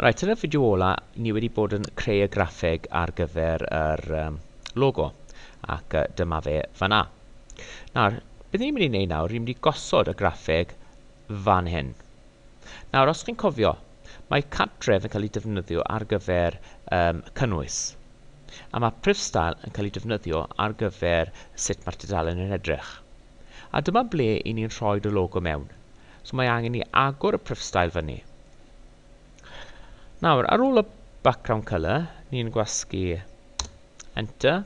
Reit, yn y fideo ola, ni wedi bod yn creu y graffeg ar gyfer yr um, logo, ac uh, dyma fe fanna. Nawr, beth ni'n mynd i wneud nawr, ni'n mynd i gosod y graffeg fan hyn. Nawr, os chi'n cofio, mae cartref yn cael ei defnyddio ar gyfer um, cynnwys, a mae prifstael yn cael ei defnyddio ar gyfer sut mae'r tudalen yn edrych. A dyma ble i ni'n rhoid y logo mewn. So mae angen i agor y pryfstael fyny. Nawr, ar ôl y background colour, ni'n gwasgu enter,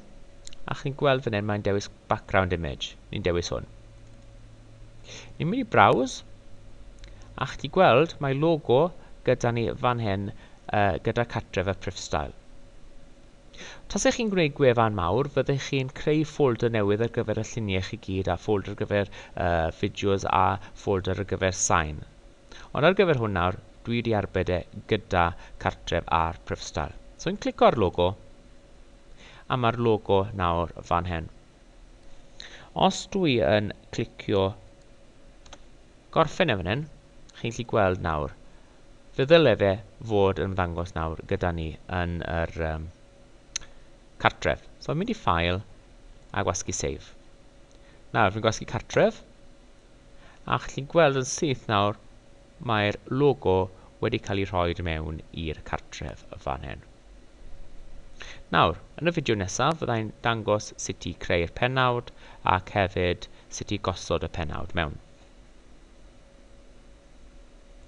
a chi'n gweld fan hyn mae'n dewis background image, ni'n dewis hwn. Ni'n mynd i browse, a chi gweld mae logo gyda ni fan hyn uh, gyda cartref y pryfstael. Tase chi'n gwneud gwefan mawr, fyddech chi'n creu ffolder newydd ar gyfer y lluniau chi gyd a ffolder ar gyfer y fideos a ffolder ar gyfer sain. Ond ar gyfer hwn nawr, dwi wedi arbed e gyda cartref ar Prifstyle. So fi'n clico ar logo, a mae'r logo nawr fan hyn. Os dwi yn clicio gorffen e fan hyn, chi'n gallu gweld nawr, Fe ddyle fe fod yn ymddangos nawr gyda ni yn yr um, cartref. So fi'n mynd i ffael a gwasgu save. Nawr, fi'n gwasgu cartref, a chi'n gweld yn syth nawr, mae'r logo wedi cael ei rhoi mewn i'r cartref y fan hyn. Nawr, yn y fideo nesaf, fyddai'n dangos sut i creu'r penawd ac hefyd sut i gosod y penawd mewn.